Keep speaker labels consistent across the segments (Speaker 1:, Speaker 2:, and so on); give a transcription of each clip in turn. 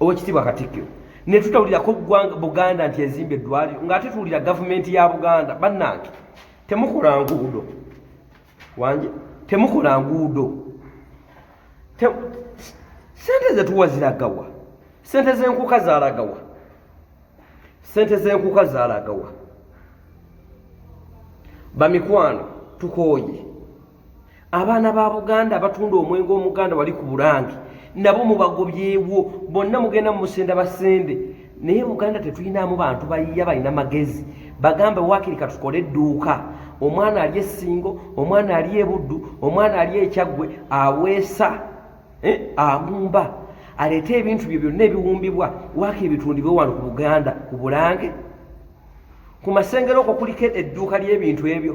Speaker 1: owekitiibwa katikkiro netutawulirako gwanga buganda nti ezimba eddwaliro ngaate tuwulira gavumenti ya buganda bannange temukola nguudo wanje temukola nguudo sente zetuwa ziragawa sente zenkuka zalagawa sente zenkuka zalagawa bamikwano tukooye abaana ba buganda abatunda omwenge omuganda wali ku bulange nabo mubagobyewo bonna mugenda mumusenda basende naye buganda tetulinamu bantu bayiya balina magezi bagambe wakiri katukole edduuka omwana ali esingo omwana ali ebuddu omwana ali ekyaggwe aweesa eh, agumba aleete ebintu bye byonna ebiwumbibwa wakiri bitundibwe wano ku buganda ku bulange ku masengero okwo kuliko edduuka ly'ebintu ebyo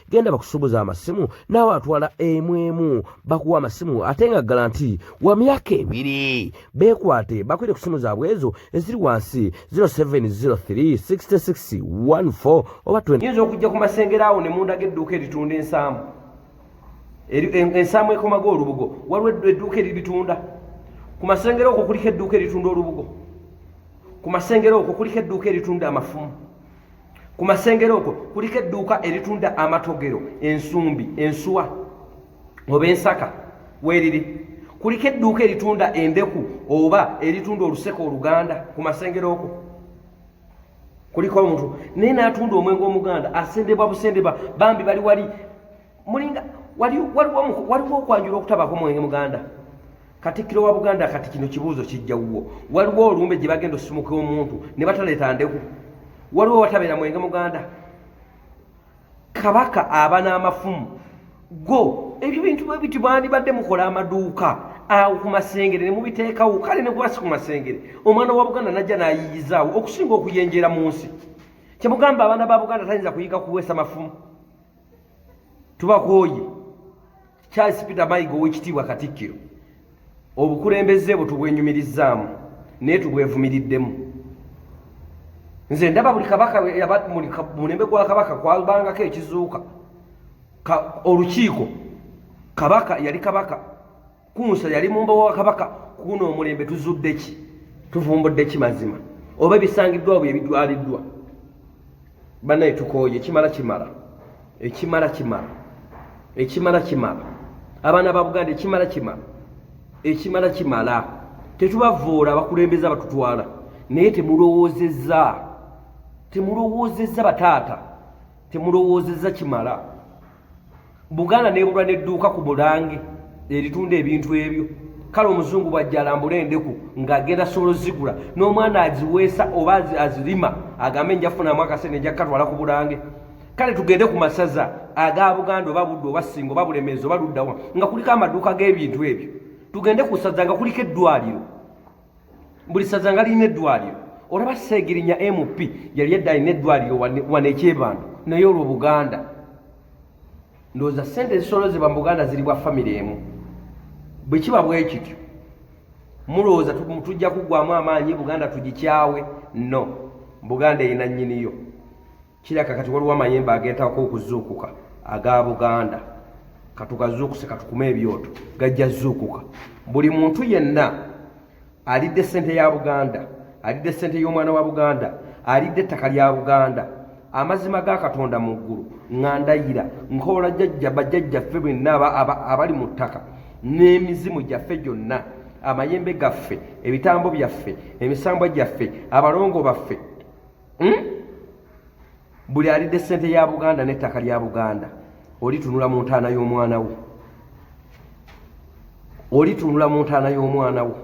Speaker 1: genda bakusubuza amasimu naawe atwala emu emu bakuwa amasimu ate nga ggala nti wa myaka ebiri beekwate bakwire ku simu zaabwe ezo eziri wansi 07036614 oba yinza okujja ku masengero awo ne mundaga edduuka eritunda ensaamu ensaamu ekomaga olubugo waliwo edduuka eribitunda ku masengero okwo kuliko edduuka eritunda olubugo ku masengero okwo kuliko edduuka eritunda amafumu ku masengero okwo kuliko edduuka eritunda amatogero ensumbi ensuwa oba ensaka weeriri kuliko edduuka eritunda endeku oba eritunda oluseke oluganda ku masengero okwo kuliko omuntu naye n'atunda omwenge omuganda asendebwa busendebwa bambi bali wali mulinga waliwo okwanjula okutabako mwenge muganda katikkiro wa buganda kati kino kibuuzo kijja wuwo waliwo olumbe gye bagenda osumuka omuntu ne bataleeta ndeku waliwo watabeera mwenge muganda kabaka aba n'amafumu go ebyo bintu bwe biti bwandibadde mukola amaduuka awo ku masengere ne mubiteekawo kale ne gwasi ku masengere omwana wa buganda najja n'ayiyizaawo okusinga okuyenjera mu nsi kyemugamba abaana ba buganda tayinza kuyiga kuweesa mafumu tubakooye charles peter mayiga owekitiibwa katikkiro obukulembeze bwe tubwenyumirizzaamu naye tubwevumiriddemu nze ndaba buli kabaka mulembe gwa kabaka kwabangako ekizuuka olukiiko kabaka yali kabaka kunsa yali mumba wa kabaka kuno omulembe tuzudde ki tuvumbudde ki mazima oba ebisangiddwa bwe ebidwaliddwa banaye tukooye kimala kimala ekimala kimala ekimala kimala abaana ba buganda ekimala kimala ekimala kimala tetubavuula abakulembeza batutwala naye temulowoozeza temulowoozeza bataata temulowoozeza kimala buganda nebulwa nedduuka ku bulange eritunda ebintu ebyo kale omuzungu bwajja alambula endeku ng'agenda sobola ozigula n'omwana aziweesa oba azirima agambe njafunamu akasente njakkatwala ku bulange kale tugende ku masaza aga buganda oba budde oba singa oba bulemeezi oba luddawa nga kuliko amaduuka g'ebintu ebyo tugende ku saza nga kuliko eddwaliro buli saza nga lirina eddwaliro olaba seegirinya mp yali edda alina eddwaliro wano ekyebando naye olwo buganda ndowooza sente ezisolozebwa mu buganda ziri bwa famire emu bwe kiba bwekityo mulowooza tujja kuggwamu amaanyi buganda tugikyawe no buganda erina nnyiniyo kiraka kati waliwo amayembe agentako okuzuukuka aga buganda katugazuukuse katukume ebyoto gajja zuukuka buli muntu yenna alidde sente ya buganda alidde sente y'omwana wa buganda alidde ettaka lya buganda amazima ga katonda mu ggulu ngandayira nkoola jajja bajajjaffe bwenna abali mu ttaka n'emizimu gyaffe gyonna amayembe gaffe ebitambo byaffe emisambwa gyaffe abalongo baffe hmm? buli alidde sente ya buganda n'ettaka lya buganda olitunula mu ntaana y'omwana wo olitunula mu ntaana y'omwana wo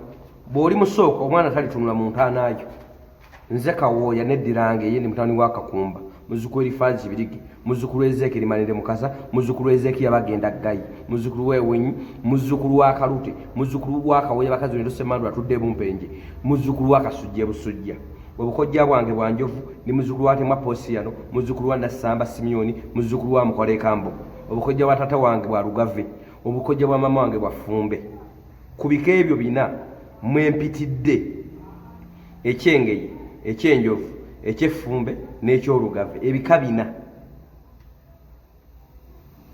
Speaker 1: bw'oli musooka omwana talitunula mu ntaana yo nze kawooya neddirange ye ndi mutani wa kakumba muzuku erifazi kibirigi muzukulu ezekeri manere mukasa muzukulu ezeki yabagenda gayi muzukulu wewenyi muzukulu wa kalute muzukulu wa kawoye bakazi nero semandu atudde bumpenje muzukulu wa kasujja busujja obukojja bwange bwa njovu ni muzukulu wa temwa posiyano muzukulu wa nasamba simiyoni muzukulu wa mukola ekambo obukojja bwa tata wange bwa lugave obukojja bwa mama wange bwa fumbe ku bika ebyo bina mwempitidde ekyengeye ekyenjovu ekyeffumbe n'ekyolugave ebika bina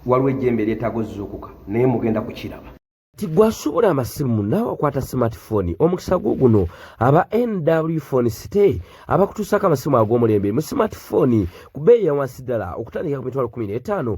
Speaker 1: waliwo ejjembe eryetaaga ozuukuka naye mugenda kukiraba ti gwasuubula amasimu naawe akwata smartphone omukisa gwo guno aba nw phone city abakutuusaako amasimu ag'omulembe mu smartphone ku beeyi yawansi ddala okutandikira ku mitwalo 15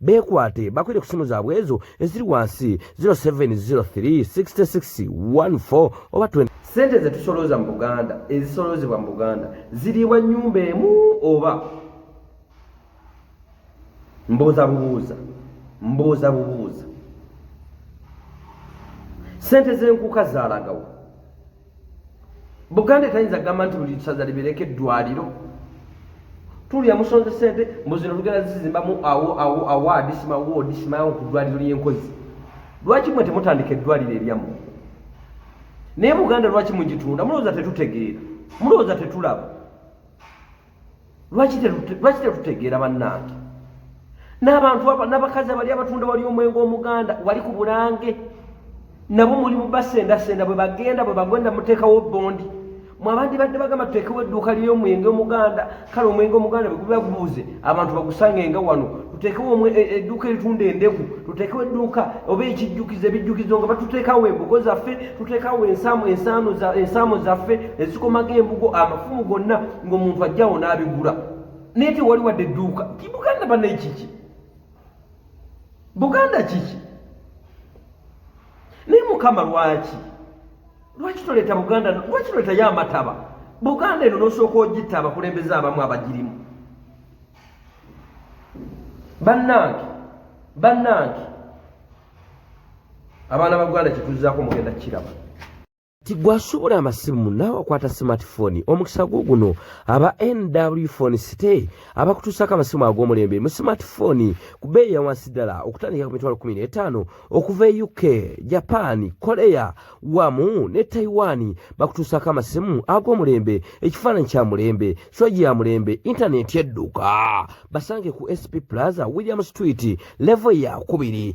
Speaker 1: beekwate bakwire ku ssimu zaabwe ezo eziri wansi 07036614 oba 20 sente zetusolooza mu buganda ezisoloozebwa mu buganda ziriibwa nyumba emu oba mbuuza bubuuza mbuuza bubuuza sente zenkuuka zalagawo buganda etayinza kugamba nti buli saza libeereko eddwaliro tulya musonze sente muzino tugenda zizimbamu awo awo awaadi simawoodi simawo ku ddwaliro ly'enkozi lwaki mwe temutandika eddwaliro eryamu naye buganda lwaki mugitunda mulowooza tetutegeera mulowooza tetulaba lwaki tetutegeera bannange n'abantu abo n'abakazi abali abatunda wali omwenge omuganda wali ku bulange nabo mulimu basendasenda bwe bagenda bwe bagenda muteekawo bondi mwabandi badde bagamba tuteekewo edduuka ly'omwenge omuganda kale omwenge omuganda bwegubabuuze abantu bagusangenga wano tuteekewo e, e, edduuka eritunda endeku tuteekewo edduuka oba ekijjukizo ebijjukizo nga batuteekawo embugo zaffe tuteekawo ensaamo zaffe ezikomaga embugo amafumu gonna ng'omuntu ajjawo n'abigula naye tewali wadde edduuka ti buganda banaye kiki buganda kiki naye mukama lwaki lwaki toleeta buganda lwaki toleetayo amataba buganda eno nosooka ogitta abakulembeze abamu abagirimu bannange bannange abaana ba buganda kyetuzaako mugenda kukiraba tigwasubula amasimu naawe akwata smartphone omukisa gwo guno aba nw phone city abakutuusako amasimu ag'omulembe mu smartphone ku bbeeyi yawansi ddala okutandika ku mitwalo 15 okuva e uk japan korea wamu ne taiwan bakutuusako amasimu ag'omulembe ekifaananyi kya mulembe soji ya mulembe intaneti edduka basange ku sp plaza william street levo yakubiri